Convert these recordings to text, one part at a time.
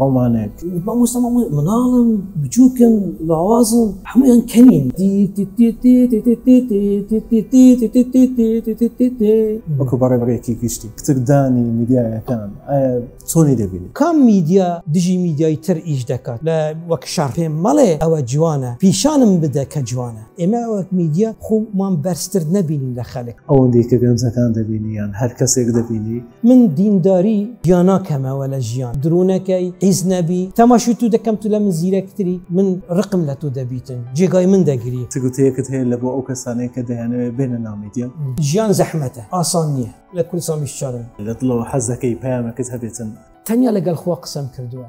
ڕۆمانێک مامۆستا مامۆستا مناڵم بچووکن لاوازم هەمویان کەنین وەکو بەڕێ بڕێکی گشتی کتردانی میدیایەکان ئایا چۆنی دەبینی کام میدیا دژی میدیای تر ئیش دەکات لە وەک شەڕ پێم مەڵێ ئەوە جوانە پیشانم بدە کە جوانە ئێمە وەک میدیا خۆمان بەرزتر نەبینین لە خەلک ئەوەندێکە گەنجەکان دەبینیان هەر کەسێک دەبینی من دینداری جیاناکەمەوە لە ژیان درونەکەی عیز نەبی تەماشی تو دەکەم تو لە من زیرەکتری من ڕقم لە تۆ دەبیتن جێگای من دەگری تگوتەیەکت هەیە لە بۆ ئەو کەسانەیە کە دەیانەوێت بێنە نامیدیە ژیان زەحمەتە ئاسان نییە لە کوردستان بیشچارن لە دڵەوە حەزەکەی پەیامەکت هەبێتن. تەنیا لەگەڵ خوا قسەم کردووە.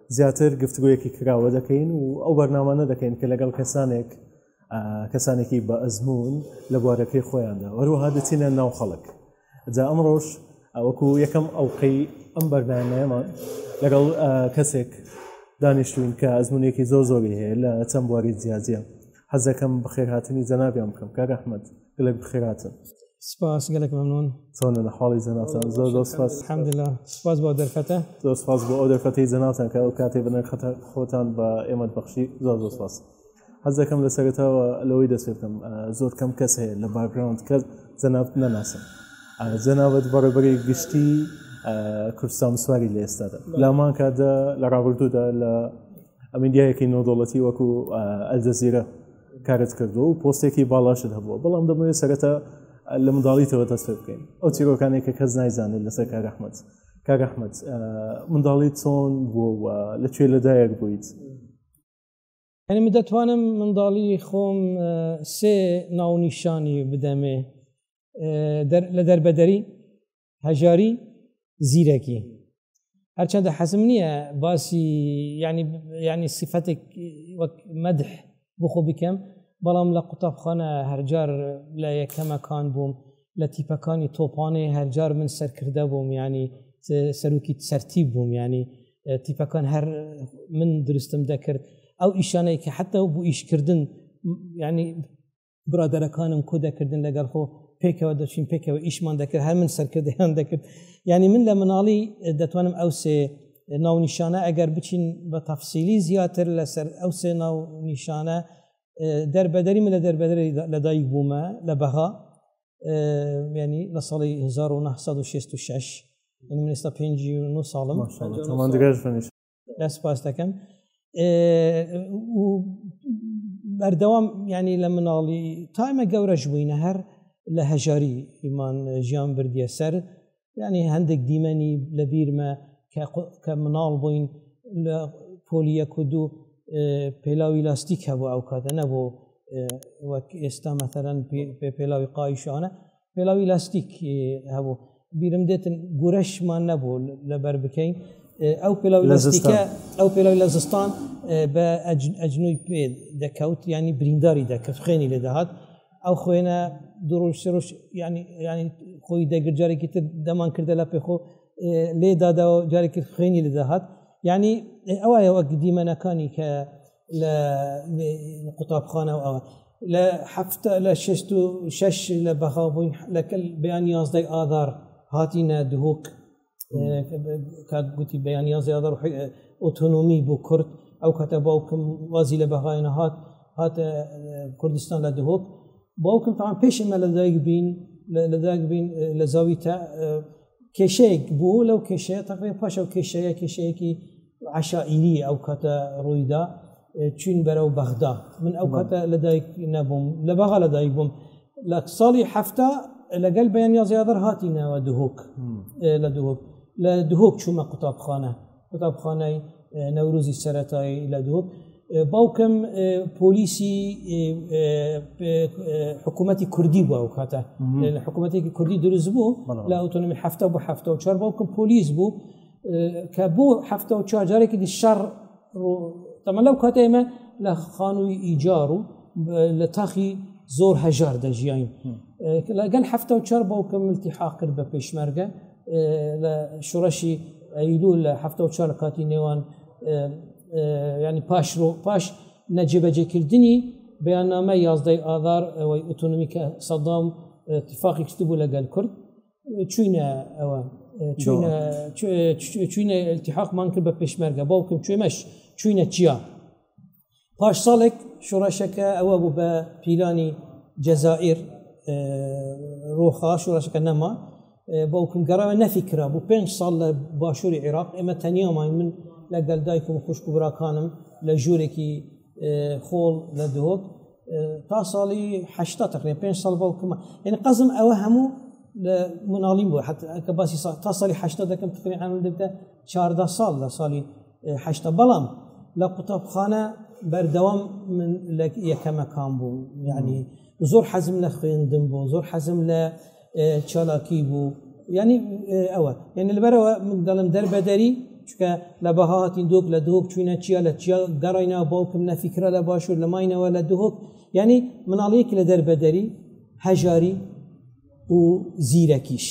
زیاتر گفتگۆیەکی کراوە دەکەین و ئەو بەرنامانە دەکەین کە لەگەڵ کەسانێک کەسانێکی بە ئەزمون لە بوارەکەی خۆیاندا وەروەها دەچینە ناو خەڵک جا ئەمڕۆژ ئەوەکو یەکەم ئەوقەی ئەم بەرنمەیەمان لەگەڵ کەسێک دانیشتوین کە ئەزمونێکی زۆر زۆری هەیە لە چەند بواری جیاجیا حەزەکەم بخێرهاتنی جەنابیان بکەم کاک ئەحمد گەلێک بخێراتن سپاس گەلێک مەمنون چۆنە لە حاڵی جەناتان زۆر زۆر سپاس حمدلا سپاس بۆ دەرفەتە زۆر سپاس بۆ ئەو دەرفەتی جەناتان کە ئەو کاتێ بنەر خەتە خۆتان بە ئێمە بەخشی زۆر زۆر سپاس حەز دەکەم لە سەرێتەوە لەوەی دەسێتم زۆر کەم کەس هەیە لە باگراوند کەس جەنابت نەناسم جەنابەت بەڕێبەری گشتی کوردستان سواری لە ئێستادا لامان کاتدا لە ڕابردوودا لە ئەمیدیایەکی نۆدۆڵەتی وەکو ئەلجەزیرە کارت کردو و پۆستێکی باڵاشت هەبووە بەڵام دەمەوێت سەرەتا لە منداڵیتەوە دەست پێ بکەین ئەو چیرۆکانی کە کەس نایزانێت لەسەر کارەحمد کاگەحمد منداڵی چۆن بووە لە کوێ لەدایەک بوویت ئەنی من دەتوانم منداڵی خۆم سێ ناونیشانی بدەمێ لە دەربەدەری هەژاری زیرەکی هەرچەندە حەزم نییە باسی ینی ینی سیفەتێک وەک مەدح بخۆ بکەم بەڵام لە قوتابخانە هەرجار لە یەکەمەکان بووم لە تیپەکانی تۆپانێ هەرجار من سەرکردە بووم ینی سەرروکی سەرتی بووم ینی تیپەکان هەر من درستم دەکرد ئەو ئیشانەی کە حتا و بۆ ئیشکردن ینی برادەرەکانم کۆ دەکردن لەگەڵ خۆ پێکەوە دەچین پێکەوە ئیشمان دەکرد هەر من سەرکردیان دەکرد ینی من لە مناڵی دەتوانم ئەو سێ ناونیشانە ئەگەر بچین بە تەفسیلی زیاتر لەسەر ئەو سێ ناونیشانە دەربەدەری من لە دەربەدەری لەدایک بوومە لە بەغا ینی لە ساڵی 1966 من ئێستا پێ ساڵم لە سپاس دەکەم بەردەوام ینی لە مناڵی تایمە گەورەش بووینە هەر لە هەژاری ئیمان ژیان بردیە سەر ینی هەندێک دیمەنی لە بیرمە کە مناڵ بووین لە پۆلیە کو دوو پێلاوی لاستیک هەبوو ئەو کاتە نەبوو وەک ئێستا مەثلەن پێ پێلاوی قایشانە پێڵاوی لاستیک هەبوو بیرم دێتن گورەشمان نەبوو لەبەر بکەین ئەو پێڵاو لەزیکە ئەو پێڵاوی لە زستان بە ئەجنوی پێ دەکەوت ینی برینداری دەکرد خوێنی لە دەهات ئەو خوێنە دوڕۆژ سێرۆژ ینی ینی خۆی دەگر جارێکی تر دەمان کردە لە پێخۆ لێدادەوە جارێکی خوێنی لە دەهات ینی ئەوە ئەوە دیمەنەکانی کە لە قوتابخانە و ئەوە لە هەفتە لە شست و شش لە بەغا بووین لەکەل بەیان یازدەی ئادار هاتینە دهۆک کاک گوتی بەیان یازدەی ئادار ئۆتۆنۆمی بۆ کورد ئەو کاتە باوکم وازی لە بەغاینە هات هاتە کوردستان لە دهۆک باوکم تاان پێش ئمە لە دایک بین لە دایک بین لە زاوی تا کێشەیەک بوو لەو کێشەیە تەقێ پاشە و کێشەیە کێشەیەکی عەشائیری ئەو کاتە ڕوویدا چین بەرەو بەغدا من ئەو کاتە لەدایک نەبووم لە بەغا لەدایک بووم لە ساڵی هەفتا لەگەل بەیان یا زیادر هاتینەوە دهۆک لە دهۆک لە دهۆک چوومە قوتابخانە قوتابخانەی نەوروزی سەتایی لە دهۆک باوکم پۆلیسی حکوومەتتی کوردی بووە و کاتە حکوومەتێکی کوردی دروست بوو لە ئۆتۆنمی هەفتا بۆ هەفتا و چوار باوکم پۆلیس بوو کە بۆ هەفتە و چوار جارێکی دی شەڕ تەمە لەو کاتە ئێمە لە خانووی ئیجار و لە تاخی زۆر هەژار دەژیین لەگەل هەفتە و چار باوکە ملتی حاقرد بە پێشمەرگە لە شوڕەشی ئەیلو لە هەفتە و چار کاتی نێوان ینی پاش ڕۆ پاش نەجێبەجێکردنی بەیاننامە یازدەی ئازار ئەوەی ئۆتۆنمیکە سەدام تفاقی کرد بوو لەگەل کورد چوینە ئەوە چوینە التحاقمان کرد بە پێشمەرگە باوکم کوێمەش چوینە چیا پاش ساڵێک شوڕەشەکە ئەوە بوو بە پیلانی جەزائیر ڕۆخا شوڕەشەکە نەما باوکم گەڕەوە نەفی کرا بوو پێنج ساڵ لە باشووری عێراق ئێمە تەنیامان من لەگەل دایکم خوشک و براکانم لە ژوورێکی خۆڵ لە دۆک تا ساڵی هشتا تقرێ پێ ساڵ باوکمە یعنی قەزم ئەوە هەموو لە مناڵیم بوو حتەکە باسی تا ساڵی هشتا دەکەم تقری ئەمن دەبتە چاردا ساڵ لە ساڵی هشتا بەڵام لە قوتابخانە بەردەوام من لە یەکەمەکان بوو یعنی زۆر حەزم لە خوێندم بۆ زۆر حەزم لە چالاکی بوو یعنی ئەوە یعنی لەبەرەوە من دەڵم دەربەدەری چکە لە بەها هاتین دۆک لە دۆک چوینە چیا لە چیا گەڕینا باوکم نەفیکرا لە باشوور لە ماینەوە لە دهۆک یعنی مناڵیەک لە دەربەدەری هەژاری و زیرەکیش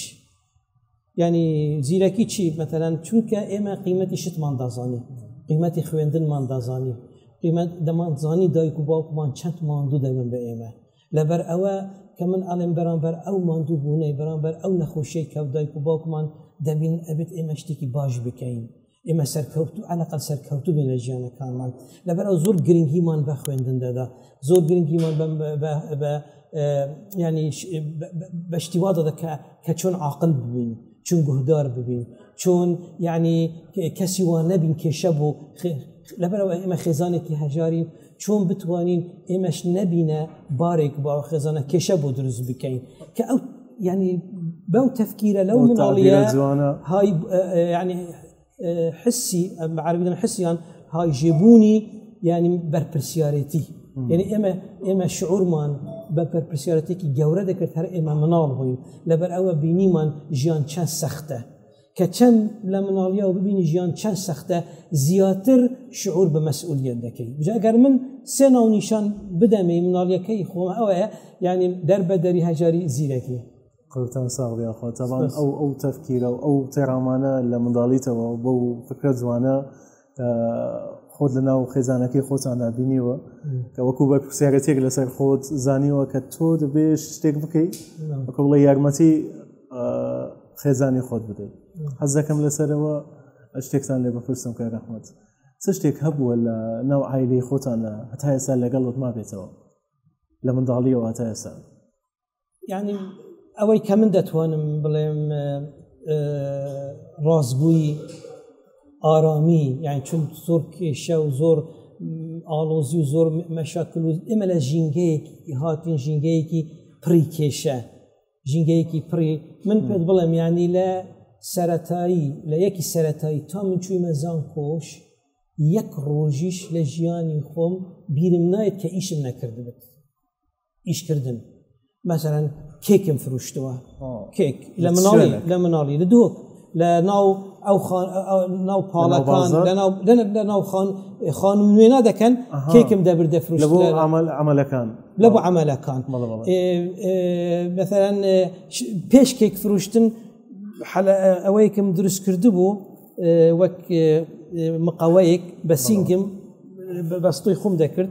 ینی زیرەکی چی مەتەرەن چونکە ئێمە قیمەتی شتمان دازانی قیمەتی خوێندنمان دازانی قیمەت دەمانزانی دایک و باوکمان چەند ماندوو دەبن بە ئێمە لەبەر ئەوە کە من ئەڵێن بەرامبەر ئەو ماندوو بوونەی بەرامبەر ئەو نەخۆشەی کە دایک و باوکمان دەبین ئەبێت ئێمە شتێکی باش بکەین ئێمە سەرکەوت و ئەلقل سەرکەوتو بین لە ژیانەکانمان لەبەرەوە زۆر گرنگیمان بە خوێندن دەدا زۆر گرنگیمان بە ینی بە شتیوا دەدا کە کە چۆن عقل ببین چون گوهدار ببین چۆن یعنی کەسی وان نەبین کێشە بۆ لەبەرەوە ئێمە خێزانێکی هەژاری چۆن بتوانین ئێمەش نەبینە بارێک باوە خێزانە کێشە بۆ دروست بکەین کە ئەو ینی بەو تەفکیرە لەو مناڵیە جوانە های ینی حسی عربیدن حسیان های ژێبوونی ینی بەرپرسیارەتی یعنی ئێمە ئێمە شعورمان بە پرپسیارەتێکی گەورە دەکرد هەر ئێمە مناڵ بووین لەبەر ئەوە بینیمان ژیان چەند سەختە کە چەند لە مناڵیەوە ببینی ژیان چەند سەختە زیاتر شعور بە مەسئولیت دەکەی جاگەر من سێ ناونیشان بدەمێ مناڵیەکەی خۆم ئەوەیە یعنی دەر بە دەری هەژاری زیرەکی قوتان ساغیاخوا تەڵام ئەو ئەو تەفکیرە و ئەو تێرامانە لە منداڵیتەوە بەو فکرە جوانە کە خۆت لە ناو خێزانەکەی خۆتاندا بینیوە کە وەکو بە پرسیارەتێک لەسەر خۆت زانیوە کە تۆ دەبێ شتێک بکەیت بەکە بڵێ یارمەتی خێزانی خۆت بدەیت حەزەکەم لەسەرەوە شتێکتان لێ بپرسم کە رەحمەت چ شتێک هەبووە لە ناو ئایلی خۆتانە هەتا ئێستا لەگەڵت ما بێتەوە لە منداڵیەوە هەتا ئێستا یعنی ئەوەی کە من دەتوانم بڵێم ڕاستبووی ئارامی یان چون زۆر کێشە و زۆر ئاڵۆزی و زۆر مەشاکل و ئێمە لە ژینگەیەکی هاتین ژینگەیەکی پڕی کێشە ژینگەیەکی پڕی من پێت بڵێم ینی لە سەتایی لە یەکی سەتایی تا من چوویمە زان کۆش یەک ڕۆژیش لە ژیانی خۆم بیرم نایێت کە ئیشم نەکردبێت ئیشکردن مەسەرەن کێکم فروشتووە کێک لە مناڵی لە مناڵی لە دۆک لە ناو ئەو ناو پاڵەکان لە ناو خان خانم نوێنا دەکەن کێکم دەبرد دەفروش ئەمەلەکان لە بۆ ئەمەلەکان بەسەرەن پێش کێک فروشتن ئەوەیەکم دروست کرده بوو وەک مقاوەیەک بە سینگم بەستۆی خۆم دەکرد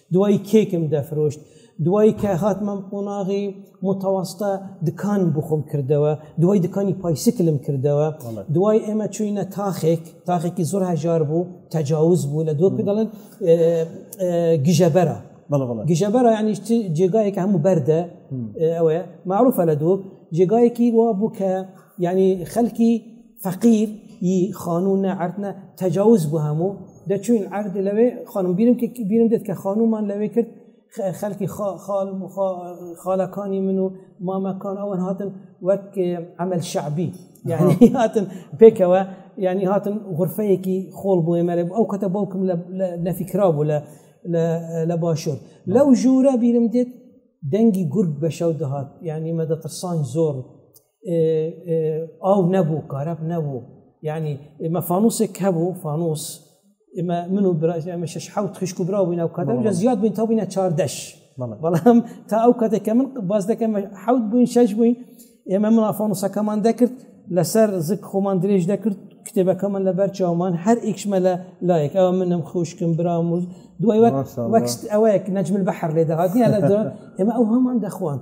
دوای کێکم دەفرۆشت دوای کە هاتمە قۆناغی متەوەستە دکان بخۆم کردەوە دوای دکانی پایسکلم کردەوە دوای ئێمە چوینە تاخێک تاخێکی زۆر هەژار بوو تەجاوز بوو لە دوو دەڵێن گژەبەرە گژەبەرە ینی جێگایەکە هەموو بەردە ئەوەیە معروفە لە دوو جێگایەکی وا بوو کە ینی خەلکی فەقیر ی خانوو نە عەرد نە تەجاوز بوو هەموو دەچوین عەرد لەوێ خانم بینم بینم دێت کە خانومان لەوێ کرد خەلکی خاڵ خاڵەکانی من و مامەکان ئەوەن هاتن وەک عمل شعبی یعنی هاتن پێکەوە ینی هاتن غرفەیەکی خۆڵ بۆ ئێمەێ ئەو کەتە باوکم نەفیکرا بوو لە لە باشوور لەو ژوورە بیرم دێت دەنگی گورگ بە شەو دەهات یعنی مەدەتەسان زۆر ئاو نەبوو کارەب نەبوو یعنی ئمە فانوسێک هەبوو فانوس ئمە من و برای ئەمە شش حوت خشک و برا بووین ئەو کاتە لە زیاد بووین تا بووینە چاردەش بەڵام تا ئەو کاتێککە من باز دەکەم حوت بووین شش بووین ئێمە من فانوسەکەمان دەکرد لەسەر زک خۆمان درێژ دەکرد کتێبەکەمان لە بەر چاومان هەر ئیکشمە لە لایەک ئەوە منم خوشکم برام و دوای وەک ئەوەیەک نەجمل بەحر لێ دەهاتنی لە ئێمە ئەو هەمان دەخواند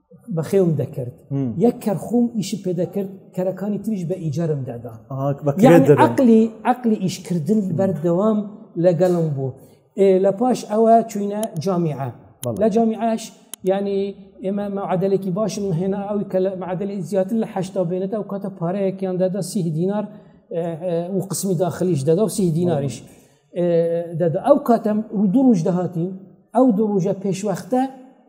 بەخێوم دەکرد یەک کەرخوم ئیشی پێ دەکرد کەرەکانی تریش بە ئیجارم دادا عقلی عقلی ئیشکردن بەردەوام لەگەڵم بوو لە پاش ئەوە چوینە جامیعە لە جامیعش ینی ئێمە معادلێکی باشم هێنا ئەوی کە لە معادلی زیاتر لە هشتا بێنێت ئەو کاتە پارەیەکیان دەدا سی دینار و قسمی داخلیش دەدا و سی دیناریش دەدا ئەو کاتەم دوو ڕژ دەهاتین ئەو دوو ڕژە پێشوەختە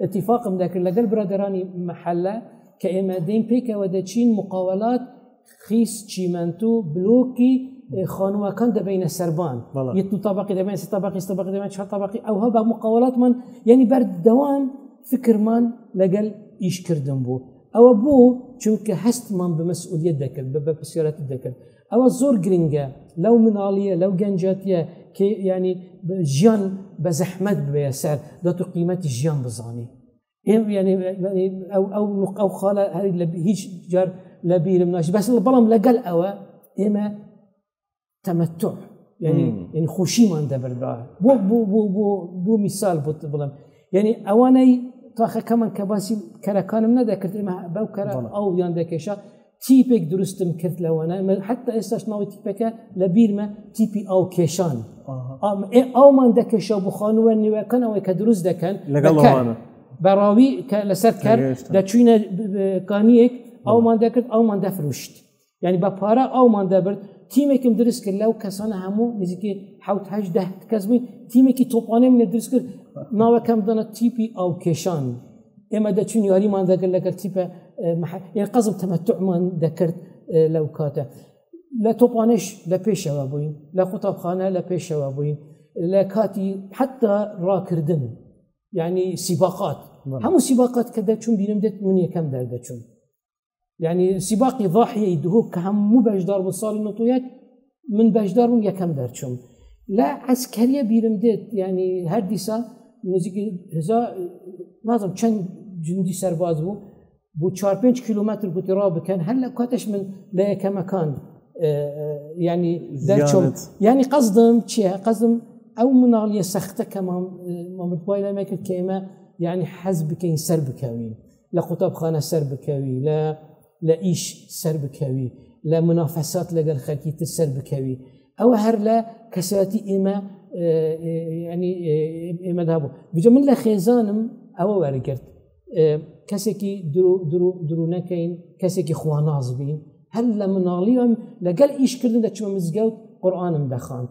اتفاقم دەکرد لەگەل برادرانی محەلە کە ئێمە دەین پێکەوە دەچین مقاولات خیس چیمەنتو بلۆکی خانووەکان دەبینە سەربان یت و تابقی دەبێن سە تابقی تابقی دەبێن چه تابقی ئەوها بە مقاولاتمان یعنی بەردەوام فکرمان لەگەل ئیشکردن بوو ئەوە بوو چونکە هەستمان بە مەسئولیت دەکرد بە بە پرسیارەتی دەکرد ئەوە زۆر گرنگە لەو مناڵیە لەو گەنجەتە کە ینی ژیان بە زەحمەت بێ سەر دەت و قیمەتی ژیان بزانانی ئەو ئەو خاڵە هەر لە هیچ جار لە بیرم ناش بەس بەڵام لەگەل ئەوە ئێمە تەمەتۆ ینی ینی خۆشیمان دەبردا بۆ بۆ بۆ بۆ بۆ میسال بۆ بڵم ینی ئەوانەی تاخەکەمان کە باسی کەرەکانم نەدەکرد ئێمە بەو کەرە ئەو یان دەکێشە تیپێک دروستم کرد لەوانە حتا ئێستاش ناوی تیپەکە لە بیرمە تیپی ئاو کێشان ئاومان دەکەشە بخۆنوە نیوەکەن ئەوەی کە دروست دەکەن لەگەڵ بەڕاوی کە لەسەر کار دەچوینە کانیەک ئەومان دەکرد ئەومان دەفروشت ینی بە پارە ئەومان دەبرد تیمێکم دروست کرد لەو کەسانە هەموو نزیکی حوتهده کەس بووین تیمێکی تۆپانێ منە دروست کرد ناوەکەم دەنە تیپی ئاو کێشان ئێمە دەچین یاریمان دەگەر لەگەر تیپە قەزم تەمەتعمان دەکرد لەو کاتە لە تۆپانش لە پێشەوە بووین لە قوتابخانە لە پێشەوە بووین لە کاتی حتا ڕاکردن یعنی سیباقات هەموو سیباقات کە دەچون بینم دێت من یەکەم دەردەچون یعنی سیباقی ضاحیەی دهۆک کە هەموو بەشدار بوو ساڵی نوتویەک من بەشدار بووم یەکەم دەرچوم لە ئەسکەریە بیرم دێت ینی هەر دیسا نزیکی نازم چەند جندی سەرباز بوو بۆ 4 5 کیلومتر گوتی ڕا بکەن هەر لە کاتش من لە یەکەمەکان ینی دەرچوم ینی قەزدم چیە قەزم ئەو مناڵیە سەختە کەمان مامتوای لەمەکرد کە ئێمە یعنی حەز بکەین سەر بکەوین لە قوتابخانە سەربکەوی، لە لە ئیش سەربکەوی، لە منافەسات لەگەل خەلکی تر سەربکەوی، ئەوە هەر لە کەسایەتی ئێمە ینی ئێمەدا بوو بجە من لە خێزانم ئەوە وەرگرت کەسێکی درو نەکەین کەسێکی خواناز بین هەر لە مناڵی ئەم لەگەل ئیشکردن دەچوە مزگەوت قورآانم دەخاند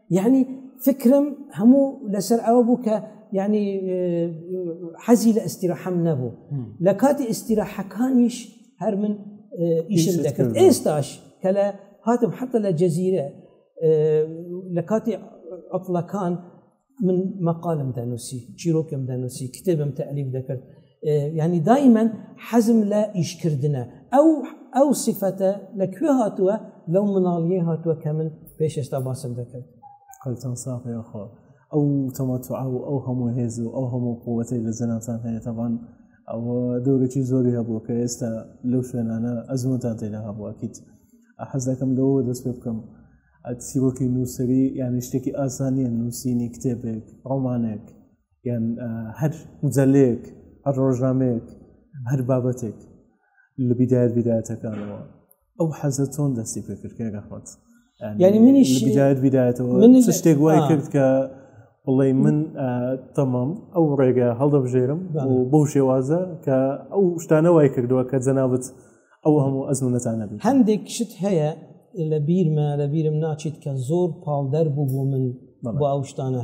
یعنی فکرم هەموو لەسەر ئەوە بوو کە یعنی حەزی لە ئستیراحەم نەبوو لە کاتی ئستیراحەکانیش هەر من ئیشم دەکرد ئێستاش کە لە هاتم حتا لە جەزیرە لە کاتی ئەفلەکان من مەقالم دەنووسی چیرۆکم دەنووسی کتێبم تەعلیف دەکرد یعنی دایمەن حەزم لە ئیشکردنە ئەو ئەو سیفەتە لە کوێ هاتووە لەو مناڵیە هاتووە کە من پێش ئێستا باسم دەکرد قەلتان ساقی خۆ ئەو تەمەتوعا و ئەو هەموو هێز و ئەو هەموو قووەتەی لە جەناتان هەیە تەبان ئەوە دەورێکی زۆری هەبووە کە ئێستا لەو شوێنانە ئەزمونتان تێدا هەبووەکیت حەز دەکەم لەوە دەست پێ بکەم ئەتسیرۆکی نووسری یانی شتێکی ئاسانیە نووسینی کتێبێک ڕۆمانێک یان هەر مجلەیەک هەر ڕۆژنامەیەک هەر بابەتێک لە بیدایەت بیدایەتەکانەوە ئەو حەزە چۆن دەستی پێکردکە گەخۆت ینی منیش بیدایەت بیدایەتەوە من شتێک وای کرد کە بڵێ من تەمام ئەو ڕێگە هەڵدەبژێرم بەو شێوازە کە ئەو شتانە وای کردووە کە جەنابەت ئەو هەموو ئەزمونەتانە بێت هەندێک شت هەیە لە بیرمە لە بیرم ناچیت کە زۆر پاڵدەر بوو بۆ من بۆ ئەو شتانە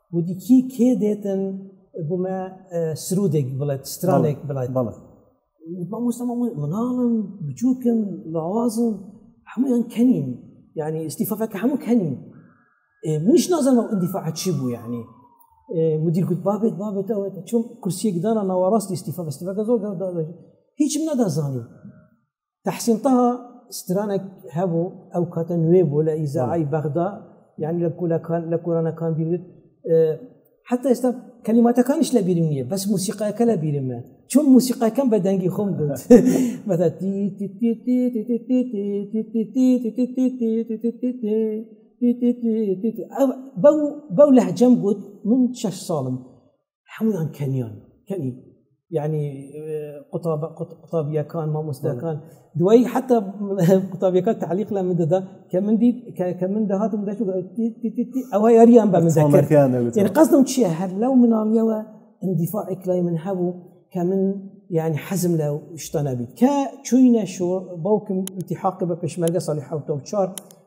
وتی کی کێ دێتن بوومە سرودێک بڵێت سترانێک بڵێت بەڵێ مامۆستەمە مناڵم بچووکم لاوازم هەمویان کەنین یعنی ئیسیفەکە هەموو کەنین منیش نازانەوە ئەدیفاع چی بوو یعنی مدیر گوت بابێت بابێتەوە چون کورسیەک دانا ناوەڕاستی ئیسیفە بەستیفەکە زۆر هیچم نەدەزانی تحسین تەها سترانێک هەبوو ئەو کاتە نوێ بوو لە ئیزاعی بەغدا یعنی لە کولەکان لە کۆرانەکان بیرت حتا ئێستا کەلیماتەکانیش لە بیرم نییە بەس موسیقایەکە لە بیرمە چون موسیقاکەم بە دەنگی خۆم گوت بەو لەهجەم گوت من شش ساڵم هەمویان کەنیان کەنی یعنی قوتابیەکان مامۆستاکان دوایی حتا قوتابیەکان تعلیق لە من دەدا کە من دیت کە من دەهاتم دەش ئەوە یاریان بە مزەکەیان قەزم چیە هەر لەو مناڵیەوە اندیفاع ئەکلای من هەبوو کە من یعنی حەزم لە شتانە بیت کە چوینە شۆ باوکم انتحاق بە پێشمەرگە ساڵی حوتە و چار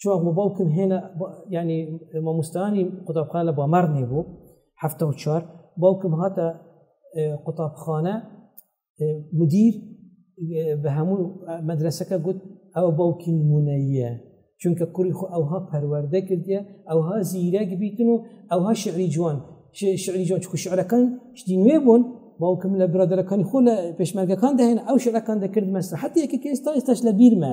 چوە بۆ باوکم هێنا ینی مامۆستانی قوتابخانە بۆ مەڕ نێبوو هەفتە و چوار باوکم هاتە قوتابخانە مدیر بە هەموو مەدرسەکە گوت ئەوە باوکی نمونەیە چونکە کوڕی خۆ ئەوها پەروەەردە کردە ئەوها زیرەک بیتن و ئەوها شعری جوان شعری جوان چکو شعرەکان شتی نوێ بوون باوکم لە برادەکانی خۆ لە پێشمەرگەکان داهێن ئەو شعرەکان دەکرد مەسرحەتێکی کە ئێستا ئێستاش لە بیرمە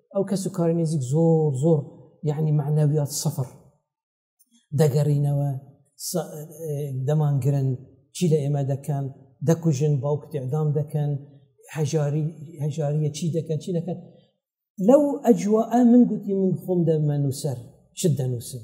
ئەو کەس و کاری نزیک زۆر زۆر یعنی معنەویات سەفر دەگەڕینەوە دەمانگرن چی لە ئێمە دەکەن دەکوژن باوک تێدام دەکەن هەژاری هەژاریە چی دەکەن چی دەکەن لەو ئەجووە من گوتی من خۆم دەمە نووسەر شت دەنووسن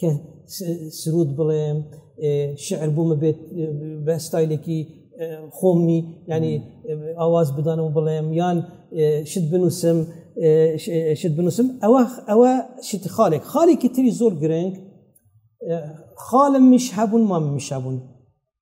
کە سرود بڵێم شعر بوومە بێت بە ستایلێکی خۆمی ینی ئاواز بدانەوە بڵێم یان شت بنووسم شت بنووسم ئەوە ئەوە شتی خاڵێک خاڵێکی تری زۆر گرنگ خاڵم میش هەبوون مام میش هەبوون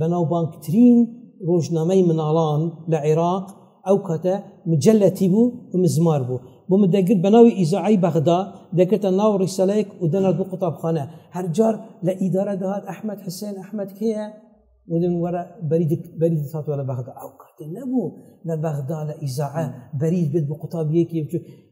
بەناوبانگترین ڕۆژنامەی مناڵان لە عێراق ئەو کاتە مجلەتی بوو و مزمار بوو بۆ من دەگرت بە ناوی ئیزعی بەغدا دەکردە ناو ڕیسەلەیەک و دەنات بۆ قوتابخانە هەرجار لە ئیدارە دەهات ئەحمد حسێن ئەحمد کێە ودن وەرە بەری دەساتوە لە بەغدا ئەو کاتێ نەبوو لە بەغدا لە ئیزاعە بەریز بێت بە قوتابیەکی بچوت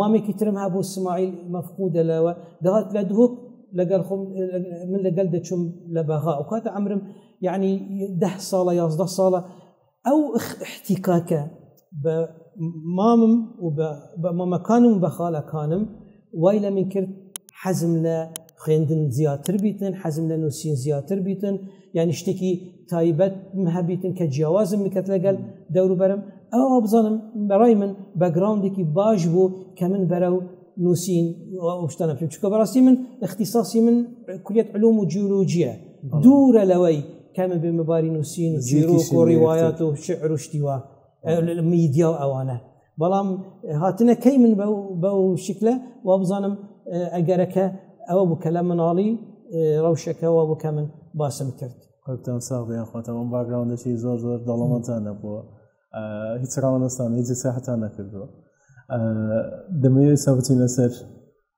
مامێکی ترم هەبوو سماعیل مەفقودە لەوە دەهات لە دهۆک لەگەڵ خۆم من لەگەل دەچوم لە بەغا و کاتە ئەمرم یعنی ده ساڵە یازدە ساڵە ئەو احتیکاکە بە مامم و بە مامەکانم و بە خاڵەکانم وای لە من کرد حەزم لە خوێندن زیاتر بیتن حەزم لە نووسین زیاتر بیتن یعنی شتێکی تایبەت هەبیتن کە جیاوازم بکەت لەگەل دەوروبەرم ئەو بزانم بەڕای من بەگراندێکی باش بوو کە من بەرە و نووسین شتانە پێ چکە بەڕاستی من اختصاصی من کولیت علوم و جیولوجیە دوورە لەوەی کەمە بێ مەباری نووسین زیرۆ کۆڕی وایات و شعر و شتیوە میدیا و ئەوانە بەڵام هاتنە کەی من بەو شکلە وا بزانم ئەگەرەکە ئەوە بوو کە لە مناڵی ڕەوشەکەەوە بوو کە من باسم کرد خۆتان ساغ بێن خۆتەوە باگراوندەکی زۆر زۆر دەڵەمەتان نەبووە هیچ ڕاوەستان هیچ ساحتان نەکردووە دەمەوێت سابتین لەسەر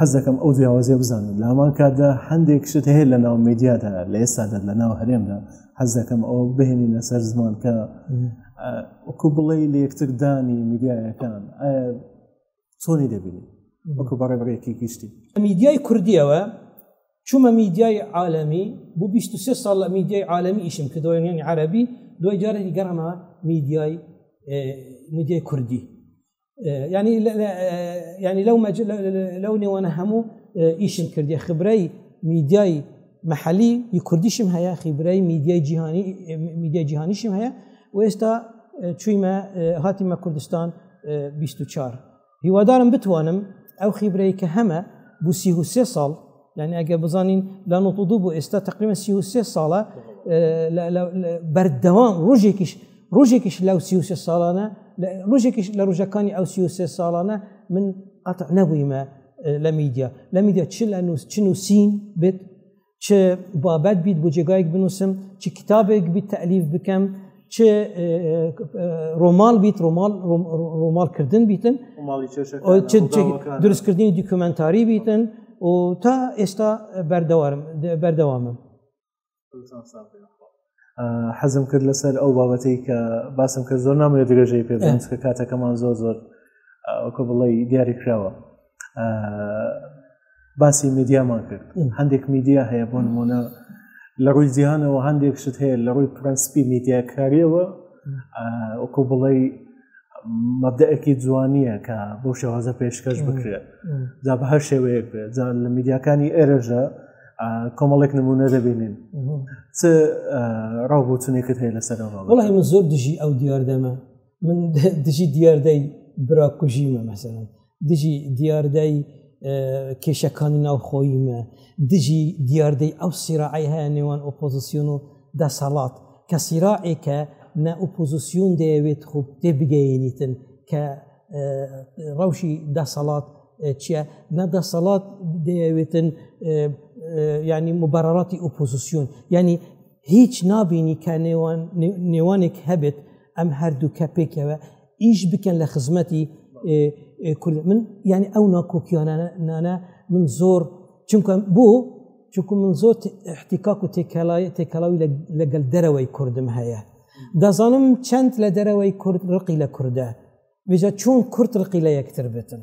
حەز دەکەم ئەو جیاوازیە بزانم لە هەمان کاتدا هەندێک شت هەیە لە ناو میدیادا لە ئێستادا لە ناو هەرێمدا حەز دەکەم ئەو بهێنی لەسەر زمان کە وەکو بڵێ لە یەکتردانی میدیایەکان ئایا چۆنی دەبینی وەکو بەڕێ بڕێکی گشتی میدیای کوردیەوە چوومە میدیای عالەمی بۆ 23 ساڵ لە میدیای عالەمی ئیشم کە دۆێنیانی عربی دوای جارێکی گەڕەمە میدیای میدیای کوردی ینی ینی لەو لەو نێوانە هەموو ئیشم کردی خبرەی میدیای محەلی ی کوردیشم هەیە خیبرای میدیای جیهانی میدیای جیهانیشم هەیە و ئێستا چویمە هاتیمە کوردستان 24 هیوادارم بتوانم ئەو خیبرەی کە هەمە بوسی و سێ ساڵ یعنی ئەگە بزانین لە نۆ دوو بۆ ئێستا تقریمە سیوسێ ساڵە بەردەوام ڕۆژێکیش ڕۆژێکیش لەو سیوسێ ساڵانە ڕژێکیش لە ڕژەکانی ئەو سیوسێ ساڵانە من قەت نەبوویمە لە میدیا لە میدیا چ لە نووس چ نووسین بێت چ بابەت بیت بۆ جێگایك بنووسم چ کتابێک بیت تەلیف بکەم چ ڕۆمال بیت ڕۆمال ڕۆمالکردن بیتن دروستکردنی دیکومنتاری بیتن و تا ئێستا بەردەوارم بەردەوامم حەزم کرد لەسەر ئەو بابەتی کە باسم کرد زۆر نامێت درێژەی پێ کە کاتەکەمان زۆر زۆر کۆ بڵی دیاری کراوە باسی میدیامان کرد هەندێک میدیا هەیە بۆ نمونە لە ڕووی جیهانەوە هەندێک شت هەیە لە ڕووی پرەنسپی میدیاکاریەوە وەکو بڵێ مەبدەەکی جوانیە کە بۆ شێوازە پێشکەش بکرێت جا بە هەر شێوەیەک بێت جا لە میدیاکانی ئێرەژە کۆمەڵێک نمونە دەبینین چ ڕاوبوتنێکت هەیە لەسەر وڵی من زۆر دژی ئەو دیاردەمە من دژی دیاردەی براکوژیمە مەسەن دژی دیاردەی کێشەکانی ناوخۆیمە دژی دیاردەی ئەو سیراعی هەیە نێوان ئۆپۆزیسیۆن و دەسەڵات کە سیراعێکە نە ئۆپۆزیسیۆن دەیەوێت خوب تێ بگەینیتن کە ڕەوشی دەسەڵات چییە نە دەسەڵات دەیەوێتن ینی مبارڕاتی ئۆپۆزیسیۆن ینی هیچ نابینی کە نێوانێک هەبێت ئەم هەردوو کە پێکەوە ئیش بکەن لە خزمەتی کورد من ینی ئەو ناکۆکیانانە من زۆر چونکە بۆ چونکو من زۆر احتیکاک و تێکەڵای تێکەڵاوی لەگەل دەرەوەی کوردم هەیە دەزانم چەند لە دەرەوەی کورد ڕقی لە کووردە بێجا چۆن کورت ڕقی لە یەکتر بێتن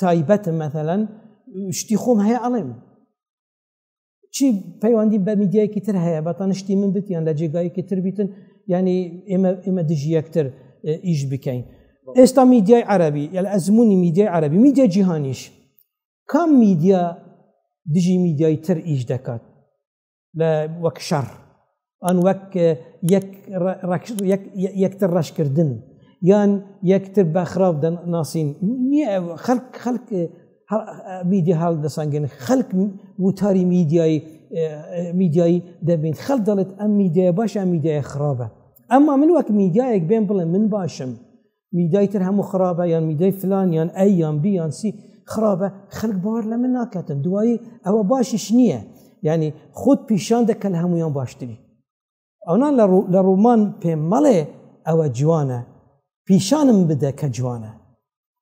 تایبەتە مەثلەن شتی خۆم هەیە ئەڵێم چی پەیوەندی بە میدیایکی تر هەیە بە تەنشتی من بتیان لە جێگایکی تر بیتن ینی ئێمە ئێمە دژی یەکتر ئیش بکەین ئێستا میدیای عربی یل ئەزمموی میدیای عربی میدیا جیهانیش کام میدیا دژی میدیای تر ئیش دەکات وەک شەڕ ئەن وەک یەکتر ڕەشکردن یان یەکتر بە خراپ ناسین خەک خەک میدیا هەڵ دەسانگەن خەک وتاری میدیایی میدیایی دەبین خەڵ دەڵێت ئەم میدیای باشە میدیای خراپە ئەمما من وەک میدیایەک بێن بڵێ من باشم میدای تر هەموو خراپە یان میدای فلان یان ئە یان بی یان سی خراپە خەک باوەر لە من ناکاتن دوایی ئەوە باشیش نییە ینی خۆت پیشان دەکە لە هەمویان باشتری ئەونان لە ڕوومان پێم مەڵێ ئەوە جوانە پیشانم بدە کە جوانە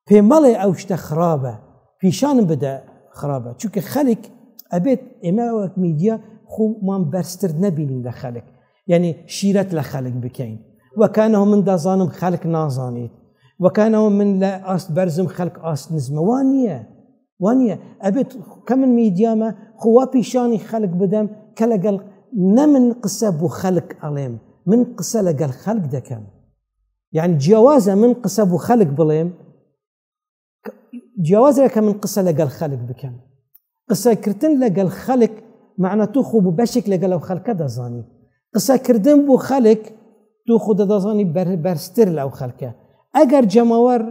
پێ مەڵێ ئەو شتە خراپە پیشانم بدە خراپە چونکە خەلک ئەبێت ئێمە وەک میدیا خۆمان بەرزتر نەبینین لە خەلک یعنی شیرەت لە خەلک بکەین وەکانەوە من دەزانم خەلک نازانیت وەکانەوە من لە ئاست بەرزم خەلک ئاست نزمەوان نییە وانە ئەبێت کە من میدیامە خوا پیشانی خەلک بدەم کە لەگەڵ نە من قسە بۆ خەلک ئەڵێم من قسە لەگەڵ خەلک دەکەم یعنی جیاوازە من قسە بۆ خەلک بڵێم جیاوازە کە من قسە لەگەڵ خەلک بکەم قسەکردن لەگەڵ خەلک معنە تو خوب و بەشێک لەگەڵ ئەو خەلکە دەزانی قسەکردن بۆ خەلک تو خود دەزانی بەربەرستر لەو خەلکە ئەگەر جەماوەر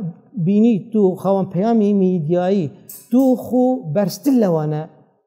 بینی تو خاوەن پەیامی میدیایی تو خو بەرزتر لەوانە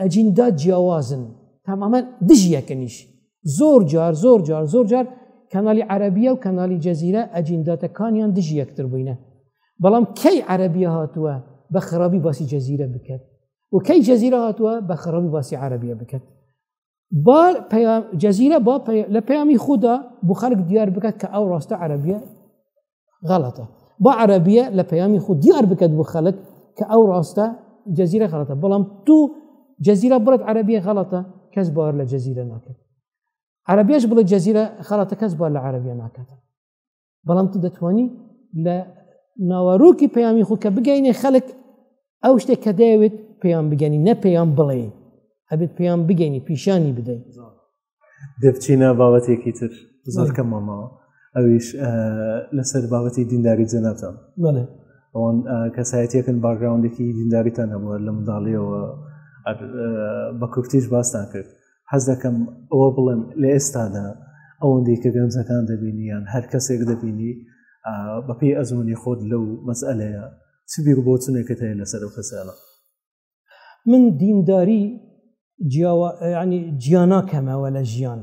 ئەجیندا جیاوازن تەمامەن دژی یەکەمیش زۆر جار زۆر جار زۆر جار کەنالی عەربیە و کەنالی جەزیرە ئەجینداتەکانیان دژی یەکتر بووینە بەڵام کەی عەربیە هاتووە بە خراپی باسی جەزیرە بکات و کەی جەزیرە هاتووە بە خراپی باسی عەربیە بکات با جەزیرە با لە پەیامی خوددا بۆ خەرک دیار بکات کە ئەو ڕاستە عەربیە غەڵەتە با عەربیە لە پەیامی خود دیار بکات بۆ خەڵک کە ئەو ڕاستە جەزیرە غەڵەتە بەڵام تو جەزیرە بڵێت عەربیە غەڵەتە کەس باوەر لە جەزیرە ناکرد عەربێش بڵێ جەزیرە خەڵەتە کەس بار لە عەربیە ناکاتە بەڵام تو دەتوانی لە ناوەڕووکی پەیامی خۆ کە بگەینێ خەلک ئەو شتێک کە دەیەوێت پێیان بگەنی نە پێیان بڵێ ئەبێت پێیان بگەینی پیشانی بدەین دەبچینە باوەتێکی تر زۆر کەم مامەوە ئەویش لەسەر باوەتی دینداری جەناتان ئەوان کەسایەتەکەن باگراوندێکی دینداریتان هەبووە لە منداڵیەوە بە کورتیش باستان کرد حەز دەکەم ئەوە بڵێم لە ئێستادا ئەوەندەی کە گەنجەکان دەبینیان هەر کەسێک دەبینی بەپی ئەزمونی خۆت لەو مەسئلەیە چ بیر بۆچونێکت هەیە لەسەر و کەسانە من دینداری جیاوا ینی جیانا کەمەوە لە ژیان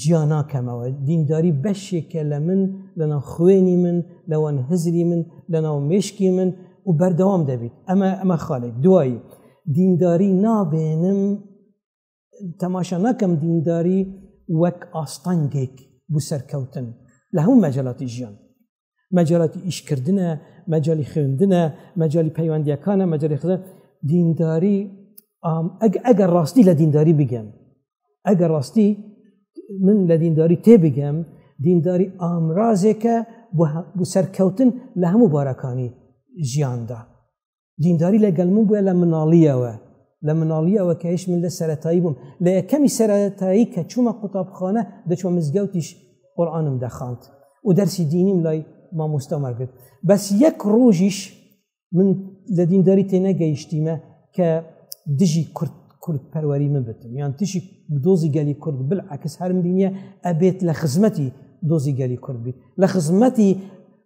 جیا ناکەمەوە دینداری بەشێکە لە من لەناو خوێنی من لەوان هزری من لەناو مشکی من و بەردەوام دەبیت ئەمە ئەمە خاڵێک دوایی دینداری نابێنم تەماشا نەکەم دینداری وەک ئاستەنگێک بوو سەرکەوتن لە هەموو مەجللاتی ژیان مەجالاتی ئیشکردە مەجای خوێندنە مەجای پەیوەندیەکانە مەجای خزە دینداری ئەگەر ڕاستی لە دینداری بگەم ئەگەر ڕاستی من لە دینداری تێبگەم دینداری ئامرازێکە بۆ سەرکەوتن لە هەموو بارەکانی ژیاندا دینداری لەگەل من بووە لە مناڵیەوە لە مناڵیەوە کە هیچ من لە سەتایی بووم لە یەکەمی سەتایی کە چوومە قوتابخانە دەچوە مزگەوتیش قورآانم دەخاند و دەرسی دینیم لای مامۆستامە کرد بەس یەک ڕۆژیش من لە دینداری تێنەگەیشتیمە کە دژی کورد کورد پەروەری من بتم یان تشی دۆزی گەلی کورد بل عکس هەرم بینە ئەبێت لە خزمەتی دۆزی گەلی کورد بیت لە خزمەتی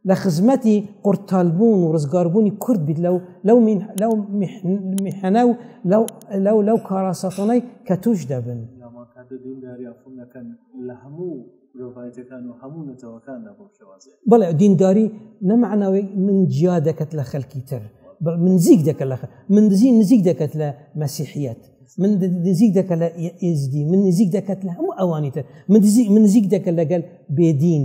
لە خزمەتی قورتالبوون و ڕزگاربوونی کورد بیت لەو لەو لەو میحەنە و لەو لەو کاراسەفۆنەی کە توش دەبن لە هەموو بڵێ دینداری نەمەعناوەی من جیا دەکەت لە خەلکی تر من زیک دەکە لە من دزی نزیک دەکەت لە مەسیحیت من نزیک دەکە لە ئێزدی من نزیک دەکەت لە هەموو ئەوانی تر من نزیک دەکە لەگەل بێدین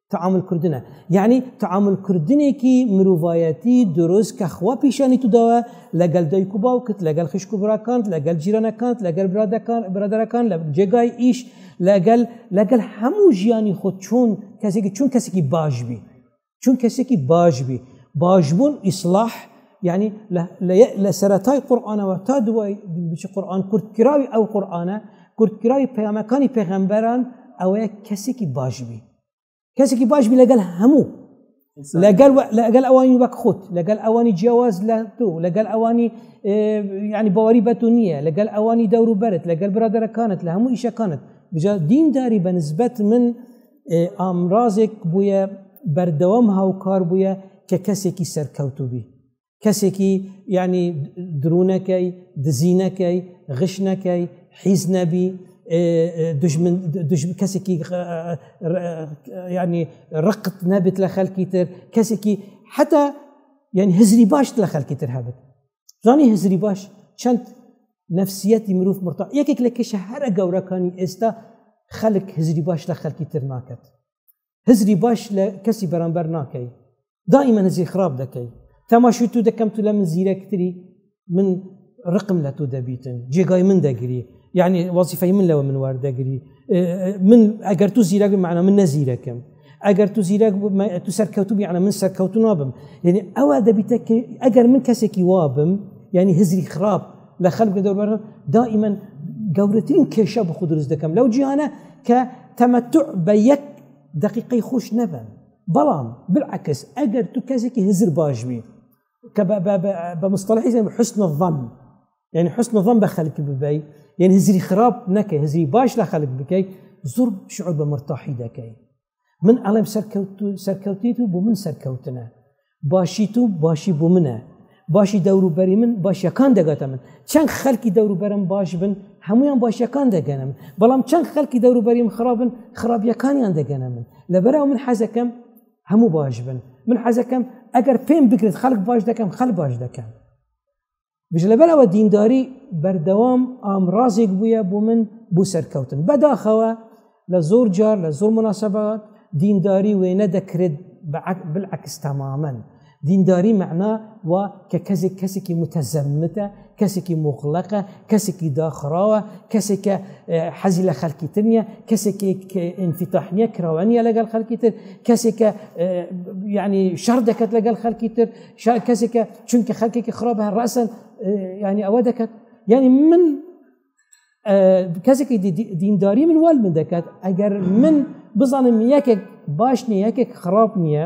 تعامل کردنە یعنی تعامل کردنێکی مرۆڤایەتی دروست کە خوا پیشانی توداوە لەگەل دایک و باوکت لەگەل خشک و براکانت لەگەل جیرانەکانت لەگەل برادەکان برادەرەکان لە جێگای ئیش لەگەل لەگەل هەموو ژیانی خۆ چۆن کەسێکی چون کەسێکی باش بی چون کەسێکی باش بی باشبوون ئیسلاح یعنی لە سەرەتای قورآانەوە تا دوای بچی قورآان کورتکراوی ئەو قورآانە کورتکراوی پەیامەکانی پێغەمبەران ئەوەیە کەسێکی باشبی کەسێکی باشبی لەگەل هەموو لەگەل لەگەل ئەوانی وەک خۆت لەگەل ئەوانی جیاواز لە تۆ لەگەل ئەوانی ینی باوەری بە تو نییە لەگەل ئەوانی دەور و بەرت لەگەل برادەرەکانت لە هەموو ئیشەکانت بجا دینداری بە نسبەت من ئامرازێک بووە بەردەوام هاوکار بووە کە کەسێکی سەرکەوتو بی کەسێکی ینی درونەکەی دزینەکەی غشنەکەی حیز نەبی کەسێکی ینی ڕقت نەبێت لە خەلکی تر کەسێکی حتا یعنی هزری باشت لە خەلکی تر هەبێت زانی هزری باش چەند نفسیەتی مروف مرتا یەکێک لە کێشە هەرە گەورەکانی ئێستا خەلک هزری باش لە خەلکی تر ناکات هزری باش لە کەسی بەرامبەر ناکەی دائیمە نزی خراپ دەکەی تەماشوی تو دەکەم تو لە من زیرەکتری من ڕقم لە تۆ دەبیتن جێگای من دەگری یعنی وەزیفەی من لەوە من وەردەگری من ئەگەر تو زیرەگە معنە من نەزیرەکەم ئەگەر تو زیرەک تو سەرکەوتوب یانە من سەرکەوتن وابم یعنی ئەوە دەبیتە ئەگەر من کەسێکی وابم ینی هزری خراپ لە خەلک دەوەر دائیمەن گەورەترین کێشە بخ دروست دەکەم لەو جیانە کە تەمەتوع بە یەک دقیقی خوش نەبن بەڵام بالعکس ئەگەر تو کەسێکی هزر باشبی کە بە مستەڵحی زەم حسن ظەم یعنی حسن ظەم بە خەلک ببی یەن هزری خراپ نەکەی هزری باش لە خەلک بکەیت زۆر شعور بە مرتاحی دەکەی من ئەڵێم سەرکەوت و سەرکەوتیت و بۆ من سەرکەوتنە باشی تو باشی بۆ منە باشی دەوروبەری من باشیەکان دەگاتە من چەند خەلکی دەوروبەرم باش بن هەمویان باشیەکان دەگەنم بەڵام چەند خەلکی دەوروبەریم خراپن خراپیەکانیان دەگەنە من لەبەرەوە من حەزەکەم هەموو باش بن من حەزەکەم ئەگەر پێم بکرێت خەڵک باش دەکەم خەل باش دەکەم بژ لەبەرەوە دینداری بەردەوام ئامرازێک بووە بۆ من بۆ سەرکەوتن بەداخەوە لە زۆر جار لە زۆر مناسبات دینداری وێنە دەکرێت بالعکس تەمامەن دینداری مەعنا و کە کەسێک کەسێکی متەزەمتە کەسێکی مۆقلەقە کەسێکی داخراوە کەسێکە حەزی لە خەلکی تر نیە کەسێکی ئینفیتاحنیە کراوانە لەگەڵ خەلکی تر کەسێکە ینی شەر دەکەت لەگەڵ خەلکی تر کەسێکە چونکە خەلکێکی خراپ هە ڕاستن ینی ئەوە دەکەت ینی من کەسێکی دینداری من وال من دەکات ئەگەر من بزانم یەکێک باش نیە یەکێک خراپ نییە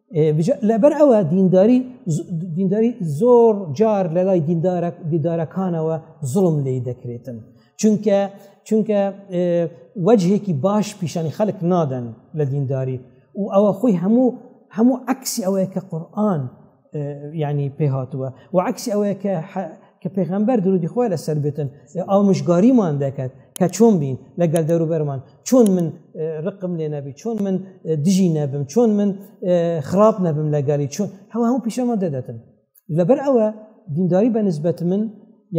لەبەر ئەوە دینداری دینداری زۆر جار لە لای دیدارەکانەوە زڵم لی دەکرێتن چونکە چونکە وەجهێکی باش پیشانی خەلک نادەن لە دینداری و ئەوە خۆی هەموو هەموو عکسی ئەوەیە کە قورآن ینی پێ هاتووە و عکسی ئەوەیە کە کە پێغەمبەر درودی خۆی لەسەر بێتن ئامژگاریمان دەکات کە چۆن بین لەگەل دەروبەرمان چۆن من ڕقم لێ نەبی چۆن من دژی نەبم چۆن من خراپ نەبم لەگەلی چۆن هەوا هەموو پیشەمان دەدەتن لەبەر ئەوە دینداری بە نسبەت من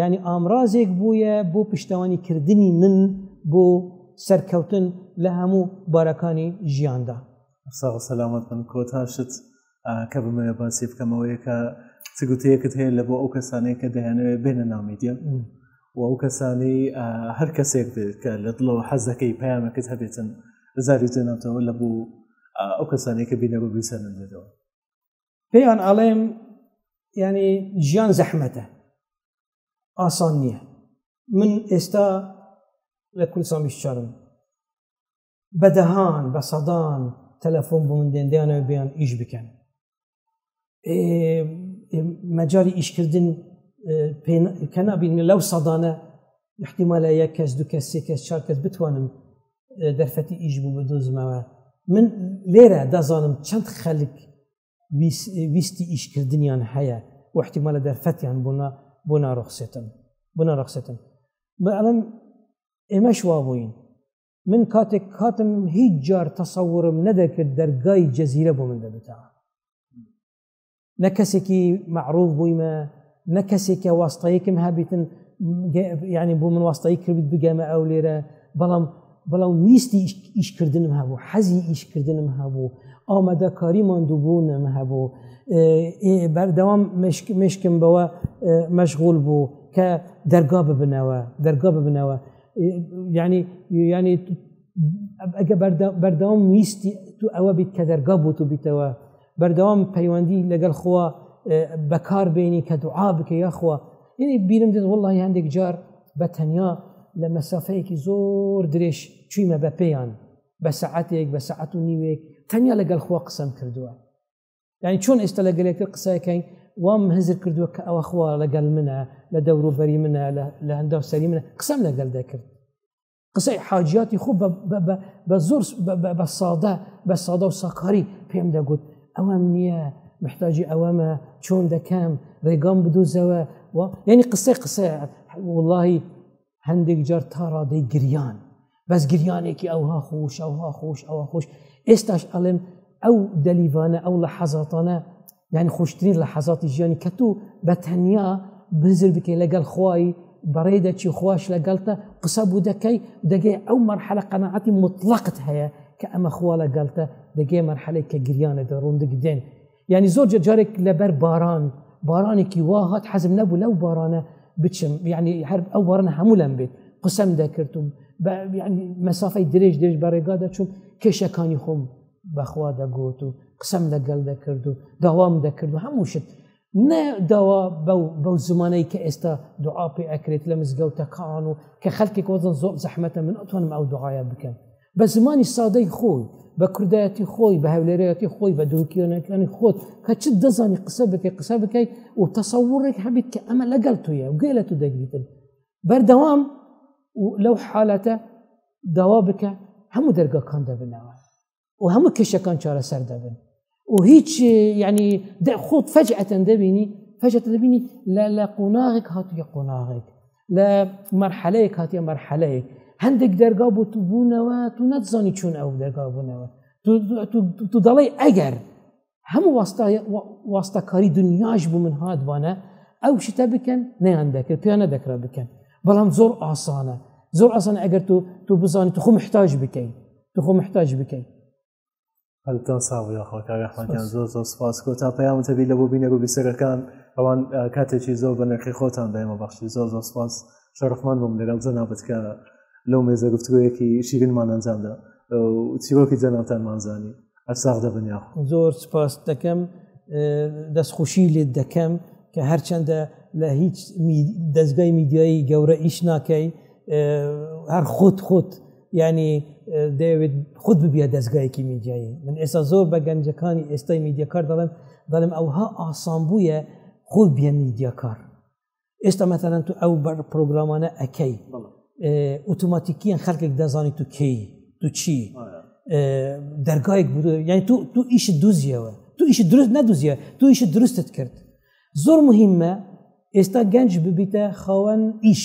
ینی ئامرازێک بووە بۆ پشتوانی کردنی من بۆ سەرکەوتن لە هەموو بارەکانی ژیاندا ساغ سەلامەت من کۆتاشت کە بمەوێ باسی بکەمەوەی کە چ گوتەیەکت هەیە لە بۆ ئەو کەسانەیە کە دەیانەوێت بێنە نامیدیە و ئەو کەسانی هەر کەسێک بێت کە لە دڵەوە حەزەکەی پامەکەت هەبێتن زاری جێناتەوە لە بۆ ئەو کەسانەیە کە بینەوە بیسەرن بێتەوە پێیان ئاڵێم ینی ژیان زەحمەتە ئاسان نییە من ئێستا لە کوردستان بیشارم بە دەهان بە سەدان تەلەفۆن بۆ من دێندیانەوە بیان ئیش بکەن مەجاری ئیشکردن کە نبینە لەو سەدانە احتیمالە یەک کەس دو کەس سێ کەس چار کەس بتوانم دەرفەتی ئیش بوو بە دۆزمەوە من لێرە دەزانم چەند خەلک ویستی ئیشکردنیان هەیە وحتیمالە دەرفەتیان بوونا بۆ ناڕخسێتن بۆ ناڕخسێتن بە ئەڵم ئێمەش وا بووین من کاتێک کاتم هیچ جار تەسەورم نەدەکرد دەرگای جەزیرە بۆ من دەبتا نە کەسێکی معروف بوویمە نە کەسێکە واستەیەکم هەبیتن ینی بۆ من واستایی کرد بگەمە ئەو لێرە بەڵام بەڵام ویستی ئیشکردنم هەبوو حەزی ئیشکردنم هەبوو ئامادەکاری ماندووبوونم هەبوو بەردەوام مشکم بەوە مەشغول بوو کە دەرگا ببنەوە دەرگا ببنەوە ینی ینی ئەگە بەردەوام ویستی تو ئەوە بیت کە دەرگا بوو و بیتەوە بەردەوام پەیوەندی لەگەڵ خۆوە بەکار بینی کە دوعا بکە یاخوا یعنی بیرم دێت وڵی هەندێک جار بە تەنیا لە مەسافەیەکی زۆر درێژ چویمە بە پێیان بە سعاتێک بە سعات و نیوێک تەنیا لەگەڵ خۆ قسم کردووە یعنی چۆن ئێستا لە گەلێکتر قسەکەین وام هزر کردووە کە ئەوە خوا لەگەل منە لە دەوروبەری منە لە هەندا سەری منە قسەم لەگەل دەکرد قسەی حاجیاتی خۆ بە زۆر بە سادە بە سادە و ساکاری پێم دەگوت ئەوەم نییە محتاجی ئەوەمە چۆن دەکەم ڕێگام بدوزەوە یعنی قسەی قسە وڵی هەندێک جار تا ڕادەی گریان بەس گریانێکی ئەوها خۆش ئەوها خۆش ئەوە خۆش ئێستاش ئەڵێم ئەو دەلیوانە ئەو لە حەزاتانە یعنی خۆشترین لە حەزاتی ژیانی کە تو بە تەنیا بزر بکەی لەگەڵ خوای بەڕێ دەچی خوش لەگەڵتە قسە بوو دەکەی دەگەی ئەو مەرحەلە قەنەعەتی مطلقت هەیە کە ئەمە خوا لەگەڵتە دەگەی مەرحەلێک کە گریانە دەڕوندک دێن یعنی زۆر جارێک لەبەر باران بارانێکی وا هات حەزم نەبوو لەو بارانە بچم یعنی هەر ئەو بارانە هەموو لەم بێت قسەم دەکرد و مەسافەی درێژ درێژ بەڕێگا دەچوون کێشەکانی خۆم بەخوا دەگوت و قسەم لەگەڵ دەکرد و داوام دەکرد و هەموو شت نە داوا بەو زمانەی کە ئێستا دوعاپی ئەکرێت لە مزگەوتەکان و کە خەلکێک وەزن زۆر زەحمەتە من ئەتوانم ئەو دوعاە بکەم بە زمانی سادەی خۆی بە کوردایەتی خۆی بە هەولێرەتی خۆی بە دروکیۆنەکانی خۆت کە چ دەزانی قسە بکەی قسە بکەیت و تەسەوڕێک هەبیت کە ئەمە لەگەڵ تویە و گوێ لە تو دەگریتن بەردەوام لەو حالەتە داوا بکە هەموو دەرگاکان دەبنەوە و هەموو کێشەکان چارەسەر دەبن و هیچ یعنی خۆت فەجعەتەن دەبینی فەجەتە دەبینی لە لە قۆناغێک هاتووە قۆناغێک لە مەرحەلەیەک هاتیە مەرحەلەیە هەندێک دەرگا بۆ تو بوونەوە تو نەتزانی چون ئەو دەرگا بوونەوە تو دەڵی ئەگەر هەموو واستەکاری دنیاش بوو من هاتبانە ئەو شتە بکەن نیان دەکرد پێیان نەدەکرا بکەن بەڵام زۆر ئاسانە زۆر ئاسانە ئەگەر تو تو بزانانی تو خۆ محتاج بکەین تو خۆ محتاج بکەین هەلتان ساو یاخوا کاک ئەحمەدیان زۆر زۆر سپاس کۆ تا پەیامتە بی لە بۆ بینەر و بیسەرەکان ئەوان کاتێکی زۆر بە نرخی خۆتان بەێمە بەخشی زۆر زۆر سپاس شەرفمان بووم لەگەڵ جەنابەت کە لەو مێزە گفتگویەکی شیرینمان ئەنجامدا چیرۆکی جەنابتانمان زانی ئەساغ دەبن یاخوا زۆر سپاس دەکەم دەستخوشی لێت دەکەم کە هەرچەندە لە هیچ دەستگای میدیایی گەورە ئیش ناکەی هەر خۆت خۆت ینی دەوێت خود ببیە دەستگایەکی میدیایی من ئێستا زۆر بە گەنجەکانی ئێستای میدیەکار دەڵێن دەڵێم ئەوها ئاسان بووە خۆ بیە میدیەکار ئێستا مەتەنەن تو ئەو بەر پرۆگرامانە ئەەکەی ئۆتوماتیکیان خەڵکێک دەزانی تو کەی تو چی دەرگایك بوو یعنی تو تو ئیش دوزیەوە تو ئیش درست نەدوزیە تو ئیش درستت کرد زۆر مهمە ئێستا گەنج ببیتە خاوەن ئیش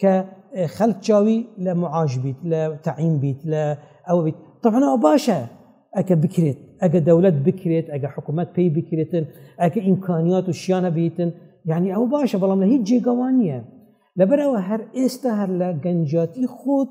کە خەلک چاوی لە معاش بیت لە تەعیم بیت لە ئەوە بیت تەحنەوە باشە ئەکە بکرێت ئەگە دەولەت بکرێت ئەگە حکوومەت پێی بکرێتن ئەکە ئیمکانیات و شیانە بیتن یعنی ئەو باشە بەڵام لە هیچ جێگەوان نییە لەبەرەوە هەر ئێستا هەر لە گەنجاتی خۆت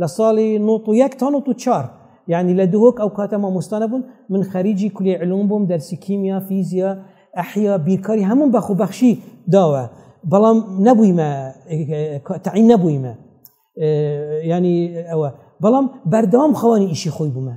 لە ساڵی نوت و یەک تا نوت و چار یعنی لە دهۆک ئەو کاتە مامۆستا نەبوون من خەریجی کولی علوم بووم دەرسی کیمیا فیزیا ئەحیا بیرکاری هەموو بەخ و بەخشی داوە بەڵام نەبوویمە تعین نەبوویمە ینی ئەوە بەڵام بەردەوام خەوانی ئیشی خۆی بوومە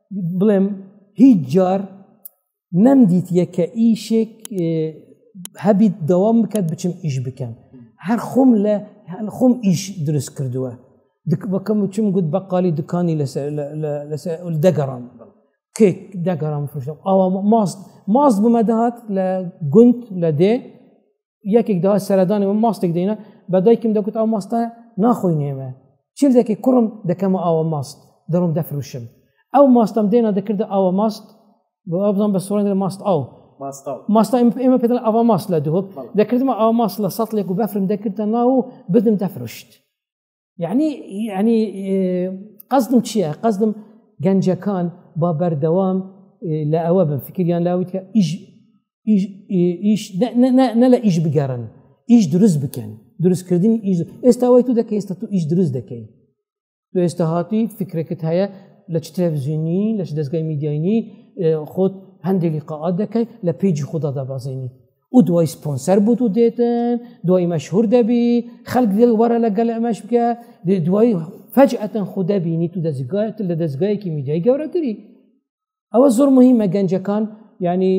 بڵێم هیچ جار نەمدیت یەکە ئیشێک هەبیت دەوام بکات بچم ئیش بکەم هەر خۆم لە خۆم ئیش دروست کردووە بەکەم وچم گوت بەقالی دوکانی لەسەر دەگەڕام کێک دەگەڕام فرشم ئاوا ماست ماست بمەدەهات لە گوند لە دێ یەکێک داوا سەردانی و ماستێک دێنە بە دایکم دەکوت ئەو ماستە ناخۆی نێمە چیل دەکەی کوڕم دەکەمە ئاوە ماست دەڕم دەفروشم ئەو ماستم دێنە دەکردە ئاوە ماست بۆ ئەو بڵم بە سوڕێن ماست ئەو ماستا ئێمە پێ ئەوە ماست لە دووە دەکردمە ئەو ماست لە سەڵێک و بەفرم دەکردە ناو و بدم دەفرشت یعنی ینی قەزدم چییە قەزدم گەنجەکان با بەردەوام لە ئەوە بن فکریان لاوتکە ئیش نە لە ئیش بگەڕن ئیش دروست بکەن دروستکردنی ئیش ئێستا وای تو دەکە ئێستا تو ئیش دروست دەکەین تو ئێستا هاتووی فکرەکەت هەیە لە چ تەلەڤزیۆنی لەش دەستگای میدیایانی خۆت هەندێکی قاعات دەکەیت لە پێیجی خوددا دابازێنی و دوای سپۆنسەر بوت و دێتن دوای مەشهور دەبی خەک دڵ وەرە لەگەل ئەمەش بکە دوای فەج ئەتەن خو دەبینی تو دەزگایت لە دەستگایەکی میدیای گەورەتری ئەوە زۆر مهمە گەنجەکان ینی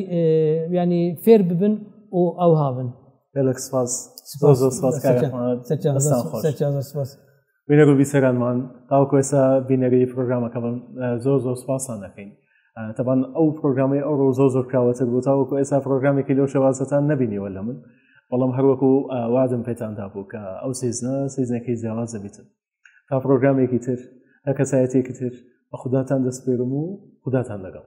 ینی فێر ببن و ئەو هاون سپاس سپاس سپاس بینەر و بیسەرانمان تاوکو ئێستا بینەری پرۆگرامەکە بن زۆر زۆر سپاسان دەکەین تەبان ئەو پرۆگرامی ئەو ڕۆ زۆر زۆر کراوەتر بوو تاوەکو ئێستا پرۆگرامێکی لەو شێوازەتان نبینیوە لە من بەڵام هەروەکو وادم پێتاندا بوو کە ئەو سیزنە سیزنەکەی جیاواز دەبیتن تا پرۆگرامێکی تر هە کەسایەتێکی تر بە خوداتان دەستپێرم و خوداتان لەگەڵ